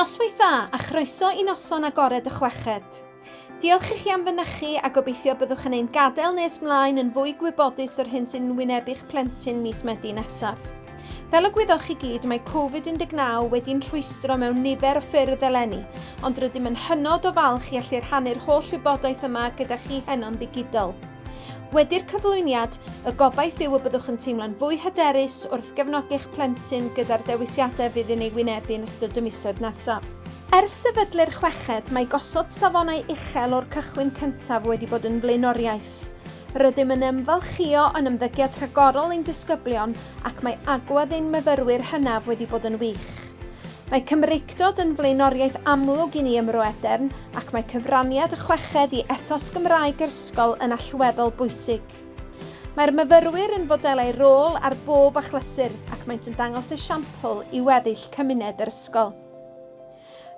Noswaith dda a chroeso i noson agored y chweched. Diolch i chi am fynychu a gobeithio byddwch yn ein gadael nes mlaen yn fwy gwybodus o'r hyn sy'n wynebu'ch plentyn mis Medi nesaf. Fel y gwyddoch chi gyd, mae Covid-19 wedi'n rhwystro mewn nifer o ffyrdd eleni, ond rydym yn hynod o falch i allu rhannu'r holl wybodaeth yma gyda chi heno'n ddigidol. Wedi'r cyflwyniad, y gobaith yw y byddwch yn teimlo'n fwy hyderus wrth gefnogi'ch plentyn gyda'r dewisiadau fydd yn ei wynebu yn ystod y misoedd nesaf. Ers sefydlu'r chweched, mae gosod safonau uchel o'r cychwyn cyntaf wedi bod yn flaenoriaeth. Rydym yn ymfalchïo o'n ymddygiad rhagorol ein disgyblion ac mae agwedd ein myfyrwyr hynaf wedi bod yn wych. Mae Cymreictod yn flaenoriaeth amlwg i ni ym Mro Edern ac mae cyfraniad y chweched i ethos Gymraeg yr ysgol yn allweddol bwysig. Mae'r myfyrwyr yn fodelau rôl ar bob achlysur ac maent yn dangos esiampl i weddill cymuned yr ysgol.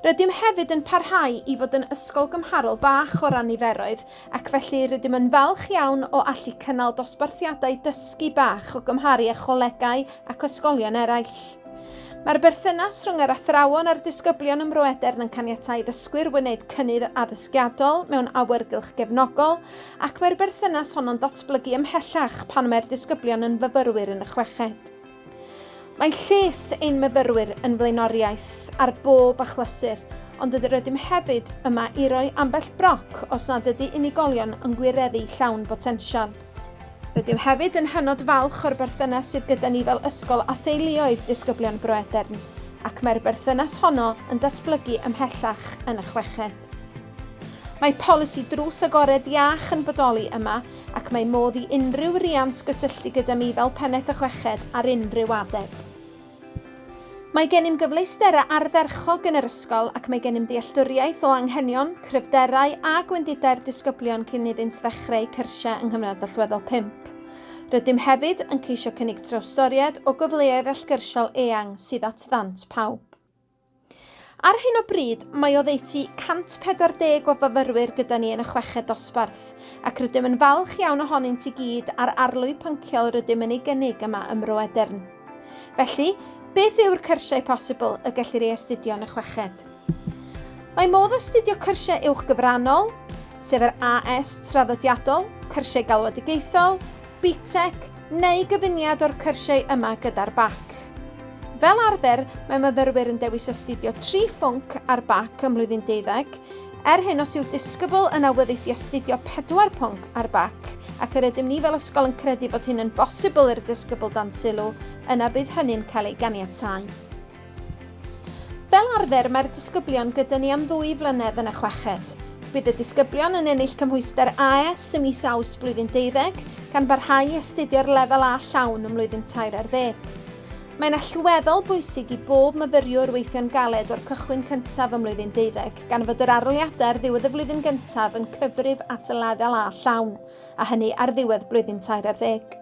Rydym hefyd yn parhau i fod yn ysgol gymharol fach o ran niferoedd ac felly rydym yn falch iawn o allu cynnal dosbarthiadau dysgu bach o gymharu â cholegau ac ysgolion eraill. Mae'r berthynas rhwng yr athrawon a'r disgyblion ym Mroedern yn caniatáu ddysgwyr wneud cynnydd addysgiadol mewn awyrgylch gefnogol, ac mae'r berthynas honno'n datblygu ymhellach pan mae'r disgyblion yn fyfyrwyr yn y chweched. Mae lles ein myfyrwyr yn flaenoriaeth ar bob achlysur, ond rydym hefyd yma i roi ambell broc os nad ydy unigolion yn gwireddu llawn botensial. Rydym hefyd yn hynod falch o'r berthynas sydd gyda ni fel ysgol â theuluoedd disgyblion Bro Edern, ac mae'r berthynas honno yn datblygu ymhellach yn y chweched. Mae polisi drws agored iach yn bodoli yma ac mae modd i unrhyw riant gysylltu gyda mi fel Pennaeth y Chweched ar unrhyw adeg. Mae gennym gyfleusterau ardderchog yn yr ysgol ac mae gennym ddealltwriaeth o anghenion, cryfderau a gwendidau'r disgyblion cyn iddynt ddechrau eu cyrsiau yng nghyfnod allweddol pump. Rydym hefyd yn ceisio cynnig trawstoriad o gyfleoedd allgyrsiol eang sydd at ddant pawb. Ar hyn o bryd, mae oddeutu 140 o fyfyrwyr gyda ni yn y chweched dosbarth, ac rydym yn falch iawn ohonynt i gyd a'r arlwy pynciol rydym yn ei gynnig yma ym Mro Edern. Felly, beth yw'r cyrsiau posibl y gellir ei astudio yn y chweched? Mae modd astudio cyrsiau uwch gyfrannol, sef yr AS traddodiadol, cyrsiau galwedigaethol, BTEC, neu gyfuniad o'r cyrsiau yma gyda'r BAC. Fel arfer, mae myfyrwyr yn dewis astudio tri phwnc ar BAC ym mlwyddyn deuddeg, er hyn os yw disgybl yn awyddus i astudio pedwar pwnc ar BAC, ac yr ydym ni fel ysgol yn credu fod hyn yn bosibl i'r disgybl dan sylw, yna bydd hynny'n cael ei ganiatáu. Fel arfer, mae'r disgyblion gyda ni am ddwy flynedd yn y chweched. Bydd y disgyblion yn ennill cymhwyster AS ym mis Awst blwyddyn deuddeg, gan barhau i astudio'r lefel A llawn ym mlwyddyn tair ar ddeg. Mae'n allweddol bwysig i bob myfyriwr weithio'n galed o'r cychwyn cyntaf ym mlwyddyn deuddeg, gan fod yr aroliadau ar ddiwedd y flwyddyn gyntaf yn cyfrif at y lefel A llawn, a hynny ar ddiwedd blwyddyn tair ar ddeg.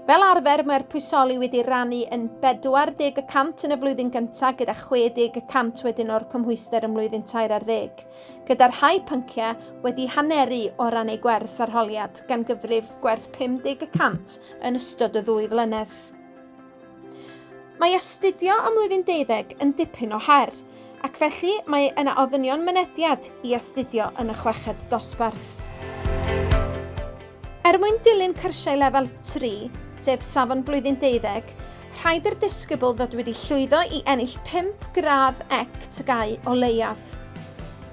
Fel arfer, mae'r pwysoli wedi rannu yn 40 y cant yn y flwyddyn gyntaf gyda 60 y cant wedyn o'r cymhwyster ym mlwyddyn tair ar ddeg, gyda'r rhai pynciau wedi haneru o ran eu gwerth arholiad, gan gyfrif gwerth 50 y cant yn ystod y ddwy flynedd. Mae astudio ym mlwyddyn deuddeg yn dipyn o her, ac felly mae yna ofynion mynediad i astudio yn y chweched dosbarth. Er mwyn dilyn cyrsiau lefel 3, sef Safon Blwyddyn Deuddeg, rhaid i'r disgybl fod wedi llwyddo i ennill 5 gradd ec TGAU o leiaf.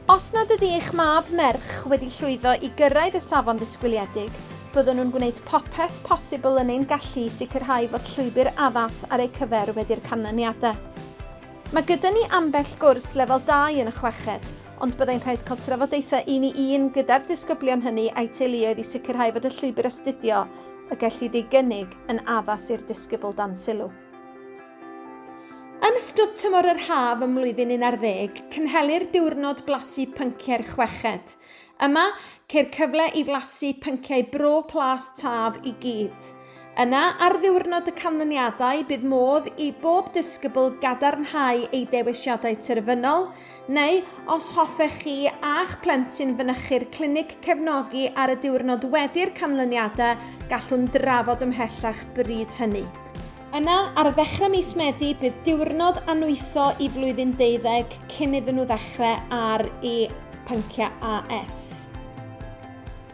Os nad ydy eich mab, merch, wedi llwyddo i gyrraedd y safon ddisgwyliedig, byddwn nhw'n gwneud popeth posibl yn ein gallu i sicrhau fod llwybr addas ar eu cyfer wedi'r canlyniadau. Mae gyda ni ambell gwrs lefel 2 yn y chweched, ond byddai'n rhaid cael trafodaethau un i un gyda'r disgyblion hynny a'u teuluoedd i sicrhau fod y llwybr astudio y gellid ei gynnig yn addas i'r disgybl dan sylw. Yn ystod tymor yr haf ym mlwyddyn un ar ddeg, cynhelir diwrnod blasu pynciau'r chweched. Yma, ceir cyfle i flasu pynciau Bro Plas Taf i gyd. Yna, ar ddiwrnod y canlyniadau, bydd modd i bob disgybl gadarnhau ei dewisiadau terfynol, neu, os hoffech chi a'ch plentyn fynychu'r clinig cefnogi ar y diwrnod wedi'r canlyniadau, gallwn drafod ymhellach bryd hynny. Yna, ar ddechrau mis Medi, bydd diwrnod anwytho i flwyddyn deuddeg cyn iddyn nhw ddechrau ar eu pynciau AS.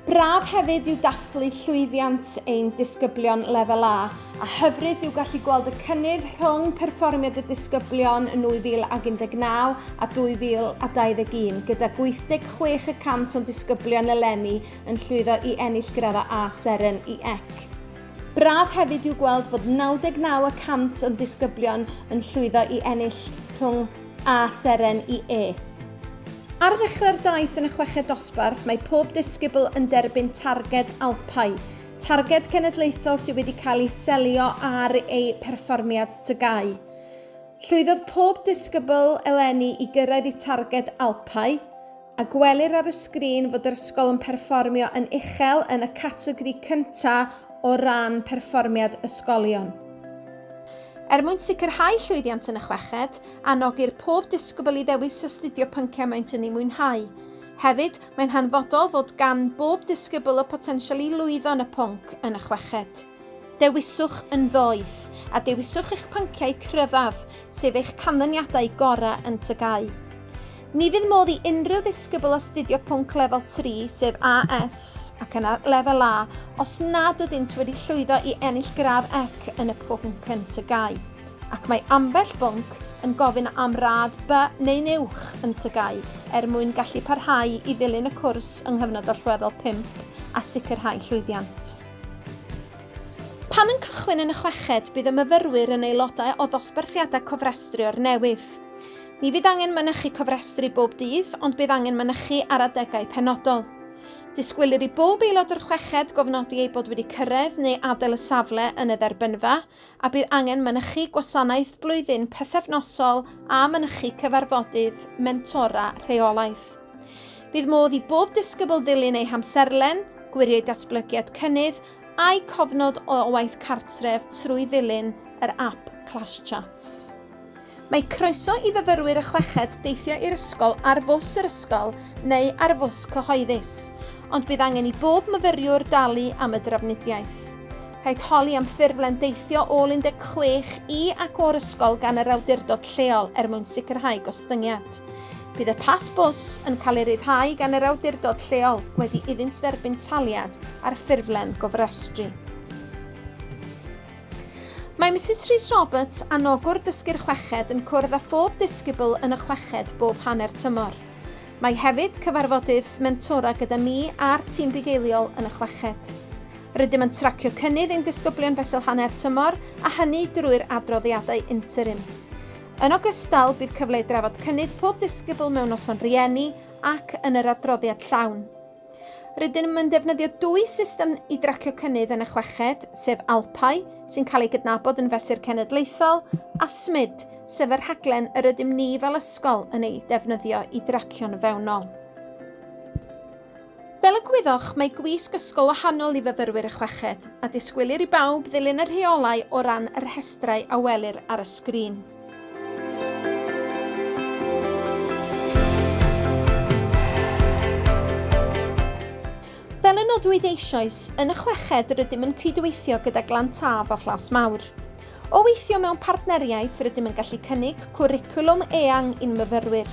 Braf hefyd yw dathlu llwyddiant ein disgyblion lefel A, a hyfryd yw gallu gweld y cynnydd rhwng perfformiad y disgyblion yn 2019 a 2021, gyda 86 y cant o'n disgyblion eleni yn llwyddo i ennill graddau A seren i ec. Braf hefyd yw gweld fod 99 y cant o'n disgyblion yn llwyddo i ennill rhwng a seren i E. Ar ddechrau'r daith yn y chweched dosbarth, mae pob disgybl yn derbyn targed Alpau, targed cenedlaethol sydd wedi cael ei selio ar eu perfformiad TGAU. Llwyddodd pob disgybl eleni i gyrraedd eu targed Alpau, a gwelir ar y sgrin fod yr ysgol yn perfformio yn uchel yn y categori cyntaf o ran perfformiad ysgolion. Er mwyn sicrhau llwyddiant yn y chweched, anogir pob disgybl i ddewis astudio pynciau maent yn eu mwynhau. Hefyd, mae'n hanfodol fod gan bob disgybl y potensial i lwyddo yn y pwnc yn y chweched. Dewiswch yn ddoeth, a dewiswch eich pynciau cryfaf, sef eich canlyniadau gorau yn TGAU. Ni fydd modd i unrhyw ddisgybl astudio pwnc lefel 3, sef AS, ac yna lefel A, os nad ydynt wedi llwyddo i ennill gradd ec yn y pwnc yn TGAU, ac mae ambell bwnc yn gofyn am radd B neu'n uwch yn TGAU er mwyn gallu parhau i ddilyn y cwrs yng nghyfnod allweddol 5 a sicrhau llwyddiant. Pan yn cychwyn yn y chweched, bydd y myfyrwyr yn aelodau o ddosbarthiadau cofrestrio'r newydd. Ni fydd angen mynychu cofrestru bob dydd, ond bydd angen mynychu ar adegau penodol. Disgwylir i bob aelod o'r chweched gofnodi eu bod wedi cyrraedd neu adael y safle yn y dderbynfa, a bydd angen mynychu gwasanaeth blwyddyn pythefnosol a mynychu cyfarfodydd mentora rheolaidd. Bydd modd i bob disgybl ddilyn eu hamserlen, gwiriau datblygiad cynnydd a'u cofnod o waith cartref trwy ddilyn yr ap Clash Chats. Mae croeso i fyfyrwyr y chweched deithio i'r ysgol ar fws yr ysgol neu ar fws cyhoeddus, ond bydd angen i bob myfyriwr dalu am y drafnidiaeth. Rhaid holi am ffurflen deithio ôl 16 i ac o'r ysgol gan yr awdurdod lleol er mwyn sicrhau gostyngiad. Bydd y pas bws yn cael ei ryddhau gan yr awdurdod lleol wedi iddynt dderbyn taliad ar ffurflen gofrestru. Mae Mrs Rhys Roberts, anogwr dysgu'r chweched, yn cwrdd â phob disgybl yn y chweched bob hanner tymor. Mae hefyd cyfarfodydd mentora gyda mi a'r tîm bugeiliol yn y chweched. Rydym yn tracio cynnydd ein disgyblion fesul hanner tymor a hynny drwy'r adroddiadau interim. Yn ogystal, bydd cyfle i drafod cynnydd pob disgybl mewn noson rhieni ac yn yr adroddiad llawn. Rydym yn defnyddio dwy system i dracio cynnydd yn y chweched, sef ALPAI, sy'n cael ei gydnabod yn fesur cenedlaethol, a SMID, sef y rhaglen yr ydym ni fel ysgol yn ei defnyddio i dracio'n fewnol. Fel y gwyddoch, mae gwisg ysgol wahanol i fyfyrwyr y chweched, a disgwylir i bawb ddilyn y rheolau o ran y rhestrau a welir ar y sgrin. Fel y nodwyd eisoes, yn y chweched rydym yn cydweithio gyda Glan Taf a Phlas Mawr. O weithio mewn partneriaeth rydym yn gallu cynnig cwricwlwm eang i'n myfyrwyr.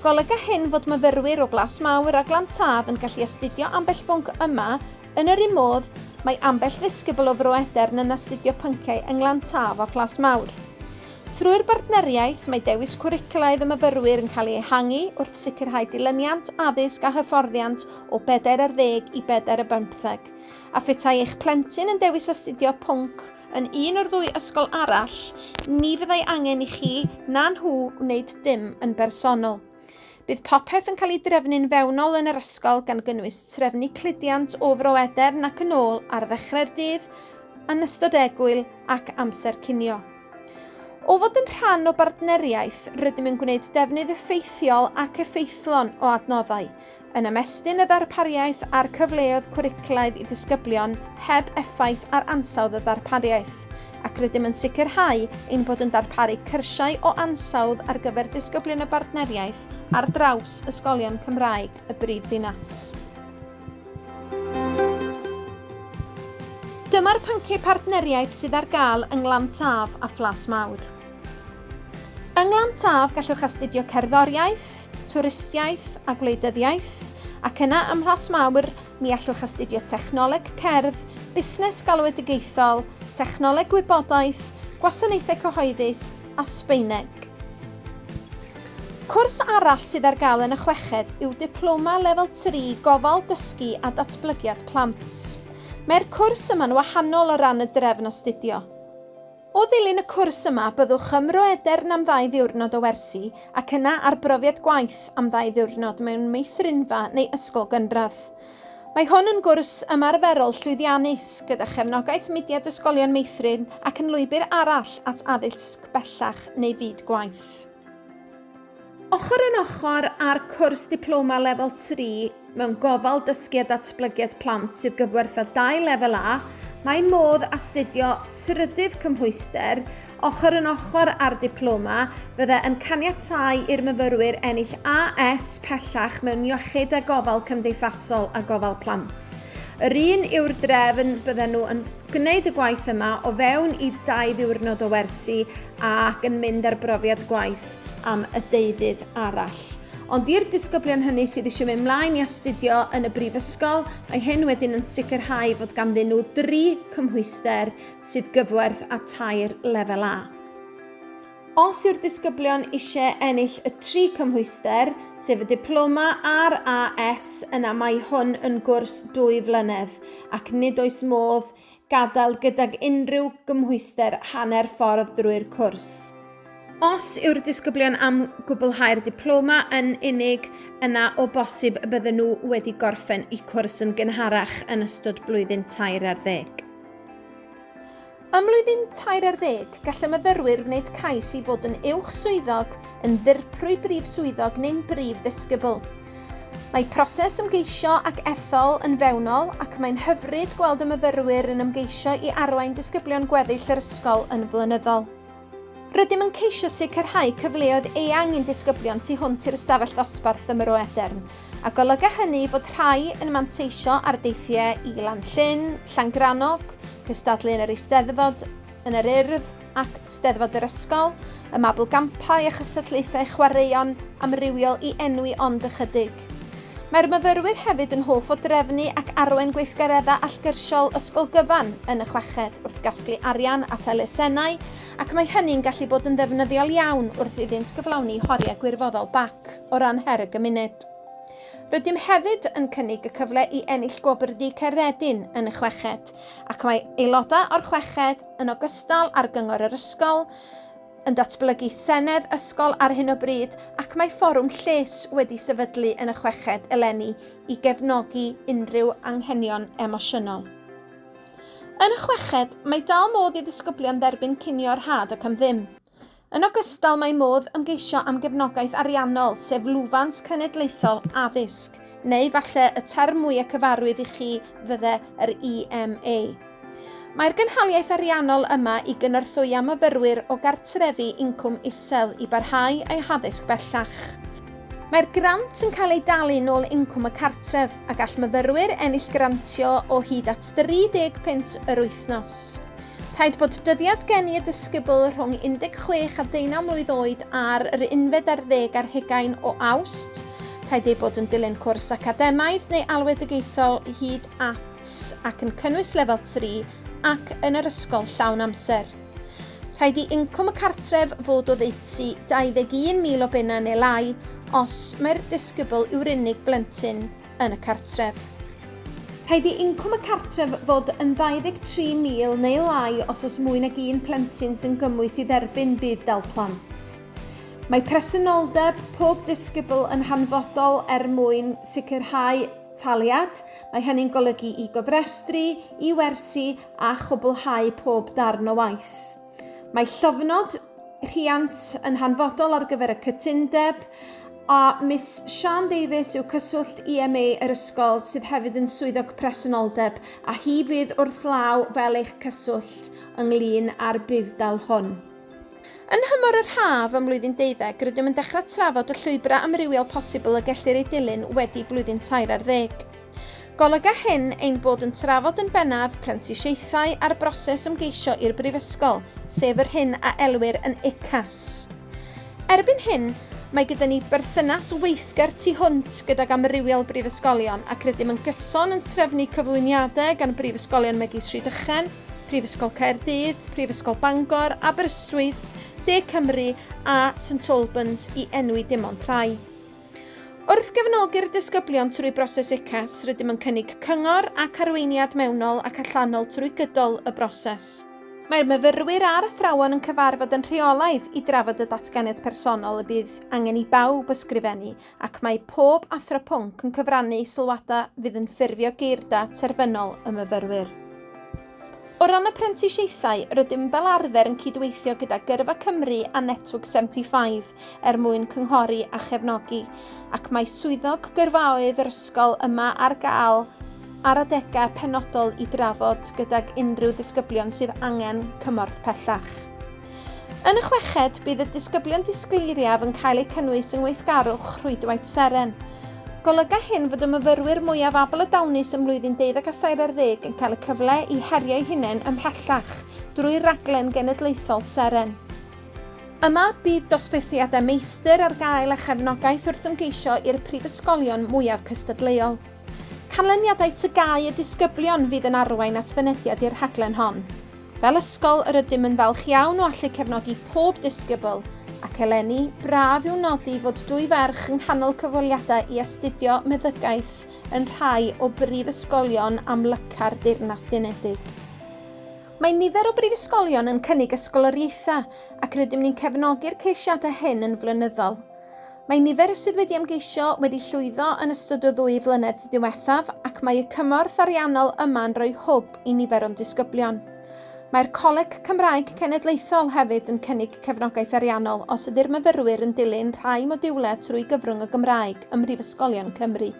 Golyga hyn fod myfyrwyr o Blas Mawr a Glan Taf yn gallu astudio ambell bwnc yma, yn yr un modd, mae ambell ddisgybl o Fro Edern yn astudio pynciau yng Nglan Taf a Phlas Mawr. Trwy'r bartneriaeth, mae dewis cwricwlaidd y myfyrwyr yn cael ei ehangu wrth sicrhau dilyniant addysg a hyfforddiant o bedair ar ddeg i bedair ar bymtheg, a phetai eich plentyn yn dewis astudio pwnc Yn un o'r ddwy ysgol arall, ni fyddai angen i chi na nhw wneud dim yn bersonol. Bydd popeth yn cael ei drefnu'n fewnol yn yr ysgol gan gynnwys trefnu cludiant o Fro Edern ac yn ôl ar ddechrau'r dydd, yn ystod egwyl ac amser cinio. O fod yn rhan o bartneriaeth, rydym yn gwneud defnydd effeithiol ac effeithlon o adnoddau, yn ymestyn y ddarpariaeth a'r cyfleoedd cwricwlaidd i ddisgyblion heb effaith ar ansawdd y ddarpariaeth, ac rydym yn sicrhau ein bod yn darparu cyrsiau o ansawdd ar gyfer disgyblion y Bartneriaeth ar draws ysgolion Cymraeg y brif ddinas. Dyma'r pynciau partneriaeth sydd ar gael yng Nglan Taf a Phlas Mawr. Yng Nglan Taf gallwch astudio cerddoriaeth, twristiaeth a gwleidyddiaeth, ac yna ym Mhlas Mawr mi allwch astudio technoleg cerdd, busnes galwedigaethol, technoleg gwybodaeth, gwasanaethau cyhoeddus a Sbaeneg. Cwrs arall sydd ar gael yn y chweched yw Diploma Lefel 3 Gofal Dysgu a Datblygiad Plant. Mae'r cwrs yma'n wahanol o ran y drefn astudio. O ddilyn y cwrs yma byddwch ym Mroedern am ddau ddiwrnod o wersi ac yna ar brofiad gwaith am ddau ddiwrnod mewn meithrinfa neu ysgol gynradd. Mae hwn yn gwrs ymarferol llwyddiannus, gyda chefnogaeth Mudiad Ysgolion Meithrin ac yn lwybr arall at addysg bellach neu fyd gwaith. Ochr yn ochr â'r cwrs Diploma Lefel 3 mewn Gofal Dysgu a Datblygiad Plant sydd gyfwertha dau Lefel A, mae modd astudio trydydd cymhwyster ochr yn ochr â'r diploma fydde yn caniatáu i'r myfyrwyr ennill AS pellach mewn Iechyd a Gofal Cymdeithasol a Gofal Plant. Yr un yw'r drefn bydden nhw yn gwneud y gwaith yma o fewn i dau ddiwrnod o wersi ac yn mynd ar brofiad gwaith am y deuddydd arall. Ond i'r disgyblion hynny sydd eisiau mynd mlaen i astudio yn y brifysgol, mae hyn wedyn yn sicrhau fod ganddyn nhw dri cymhwyster sydd gyfwerth a tair lefel A. Os yw'r disgyblion eisiau ennill y tri cymhwyster, sef y diploma a'r AS, yna mae hwn yn gwrs dwy flynedd ac nid oes modd gadael gydag unrhyw gymhwyster hanner ffordd drwy'r cwrs. Os yw'r disgyblion am gwblhau'r diploma yn unig, yna o bosib y bydden nhw wedi gorffen y cwrs yn gynharach yn ystod blwyddyn tair ar ddeg. Ym mlwyddyn tair ar ddeg, gall y myfyrwyr wneud cais i fod yn Uwch Swyddog, yn Ddirprwy Brif Swyddog neu'n Brif Ddisgybl. Mae proses ymgeisio ac ethol yn fewnol ac mae'n hyfryd gweld y myfyrwyr yn ymgeisio i arwain disgyblion gweddill yr ysgol yn flynyddol. Rydym yn ceisio sicrhau cyfleoedd eang i'n disgyblion tu hwnt i'r ystafell ddosbarth ym Mro Edern, a golyga hynny fod rhai yn manteisio ar deithiau i Lanllyn, Llangrannog, cystadlu yn yr Eisteddfod, yn yr Urdd ac Steddfod yr Ysgol, y Mabolgampau a chysylltiaethau chwaraeon amrywiol i enwi ond ychydig. Mae'r myfyrwyr hefyd yn hoff o drefnu ac arwain gweithgareddau allgyrsiol ysgol gyfan yn y chweched wrth gasglu arian at elusennau ac mae hynny'n gallu bod yn ddefnyddiol iawn wrth iddynt gyflawni horiau gwirfoddol bac o ran her y gymuned. Rydym hefyd yn cynnig y cyfle i ennill Gwobr Du Caeredin yn y chweched. ac mae aelodau o'r chweched, yn ogystal â'r Gyngor yr Ysgol, yn datblygu Senedd Ysgol ar hyn o bryd ac mae Fforwm Lles wedi sefydlu yn y chweched eleni i gefnogi unrhyw anghenion emosiynol. Yn y chweched, mae dal modd i ddisgyblion dderbyn cinio rhad ac am ddim. Yn ogystal, mae modd ymgeisio am gefnogaeth ariannol, sef lwfans cenedlaethol addysg, neu falle y term mwyaf cyfarwydd i chi fydde yr EMA. Mae'r gynhaliaeth ariannol yma i gynorthwya myfyrwyr o gartrefi incwm isel i barhau eu haddysg bellach. Mae'r grant yn cael ei dalu nôl incwm y cartref a gall myfyrwyr ennill grantio o hyd at 30 punt yr wythnos. Rhaid bod dyddiad geni y disgybl rhwng 16 a 19 mlwydd oed ar yr unfed ar ddeg ar hugain o Awst, rhaid ei bod yn dilyn cwrs academaidd neu alwedigaethol hyd at ac yn cynnwys lefel 3 ac yn yr ysgol llawn amser. Rhaid i incwm y cartref fod oddeutu 21,000 o bunnau neu lai os mai'r disgybl yw'r unig blentyn yn y cartref. Rhaid i incwm y cartref fod yn 23,000 neu lai os oes mwy nag un plentyn sy'n gymwys i dderbyn budd-dal plant. Mae presenoldeb pob disgybl yn hanfodol er mwyn sicrhau taliad, mae hynny'n golygu i gofrestru, i wersi a chwblhau pob darn o waith. Mae llofnod rhiant yn hanfodol ar gyfer y cytundeb, a Miss Siân Davies yw cyswllt EMA yr ysgol sydd hefyd yn swyddog presenoldeb a hi fydd wrth law fel eich cyswllt ynglŷn â'r budd-dal hwn. Yn nhymor yr haf ym mlwyddyn deuddeg, rydym yn dechrau trafod y llwybrau amrywiol posibl y gellir eu dilyn wedi blwyddyn tair ar ddeg. Golyga hyn ein bod yn trafod yn bennaf prentisiaethau a'r broses ymgeisio i'r Brifysgol, sef yr hyn a elwir yn UCAS. Erbyn hyn, mae gyda ni berthynas weithgar tu hwnt gydag amrywiol brifysgolion ac rydym yn gyson yn trefnu cyflwyniadau gan brifysgolion megis Rhydychen, Prifysgol Caerdydd, Prifysgol Bangor, Aberystwyth, De Cymru a St Albans i enwi dim ond rhai. Wrth gefnogi'r disgyblion trwy broses UCAS, rydym yn cynnig cyngor ac arweiniad mewnol ac allanol trwy gydol y broses. Mae'r myfyrwyr a'r athrawon yn cyfarfod yn rheolaidd i drafod y datganiad personol y bydd angen i bawb ysgrifennu ac mae pob athro pwnc yn cyfrannu sylwadau fydd yn ffurfio geirda terfynol y myfyrwyr. O ran y prentisiaethau, rydym fel arfer yn cydweithio gyda Gyrfa Cymru a Network 75 er mwyn cynghori a chefnogi, ac mae swyddog gyrfaoedd yr ysgol yma ar gael ar adegau penodol i drafod gydag unrhyw ddisgyblion sydd angen cymorth pellach. Yn y chweched, bydd y disgyblion disgleiriaf yn cael eu cynnwys yng ngweithgarwch Rhwydwaith Seren. Golyga hyn fod y myfyrwyr mwyaf abl a dawnus ym mlwyddyn deuddeg a thair ar ddeg yn cael y cyfle i herio'u hunain ymhellach drwy raglen genedlaethol Seren. Yma, bydd dosbarthiadau meistr ar gael a chefnogaeth wrth ymgeisio i'r prifysgolion mwyaf cystadleuol. Canlyniadau TGAU y disgyblion fydd yn arwain at fynediad i'r rhaglen hon. Fel ysgol, yr ydym yn falch iawn o allu cefnogi pob disgybl, ac eleni, braf yw nodi fod dwy ferch yng nghanol cyfweliadau i astudio meddygaeth yn rhai o brifysgolion amlyca'r Deyrnas Unedig. Mae nifer o brifysgolion yn cynnig ysgoloriaethau, ac rydym ni'n cefnogi'r ceisiadau hyn yn flynyddol. Mae nifer sydd wedi ymgeisio wedi llwyddo yn ystod o ddwy flynedd diwethaf ac mae y cymorth ariannol yma'n rhoi hwb i nifer o'n disgyblion. Mae'r Coleg Cymraeg Cenedlaethol hefyd yn cynnig cefnogaeth ariannol os ydy'r myfyrwyr yn dilyn rhai modiwlau trwy gyfrwng y Gymraeg ym mhrifysgolion Cymru.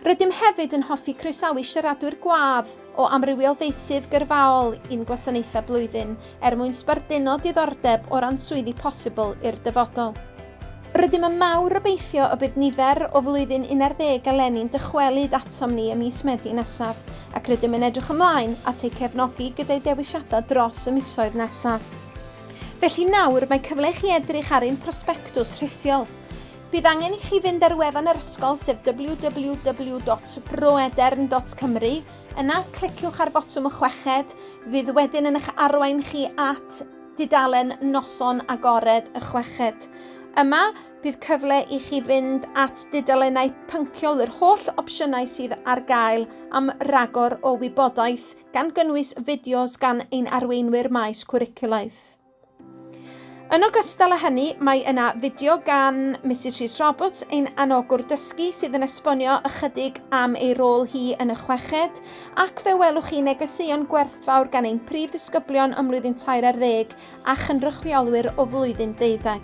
Rydym hefyd yn hoffi croesawu siaradwyr gwadd o amrywiol feysydd gyrfaol i'n gwasanaethau blwyddyn er mwyn sbarduno diddordeb o ran swyddi posibl i'r dyfodol. Rydym yn mawr obeithio y bydd nifer o Flwyddyn Un Ar Ddeg eleni'n dychwelyd atom ni ym mis Medi nesaf ac rydym yn edrych ymlaen at eu cefnogi gyda'u dewisiadau dros y misoedd nesaf. Felly nawr mae cyfle i chi edrych ar ein prosbectws rhithiol. Bydd angen i chi fynd ar wefan yr ysgol sef www.roedern.cymru, yna cliciwch ar fotwm y chweched, fydd wedyn yn eich arwain chi at dudalen Noson Agored y Chweched. Yma, bydd cyfle i chi fynd at dudalennau pynciol yr holl opsiynau sydd ar gael am ragor o wybodaeth, gan gynnwys fideos gan ein arweinwyr maes cwricwlaidd. Yn ogystal â hynny, mae yna fideo gan Mrs Rhys Roberts, ein anogwr dysgu, sydd yn esbonio ychydig am ei rôl hi yn y chweched, ac fe welwch chi negeseuon gwerthfawr gan ein prif ddisgyblion ym mlwyddyn tair ar ddeg a chynrychiolwyr o flwyddyn deuddeg.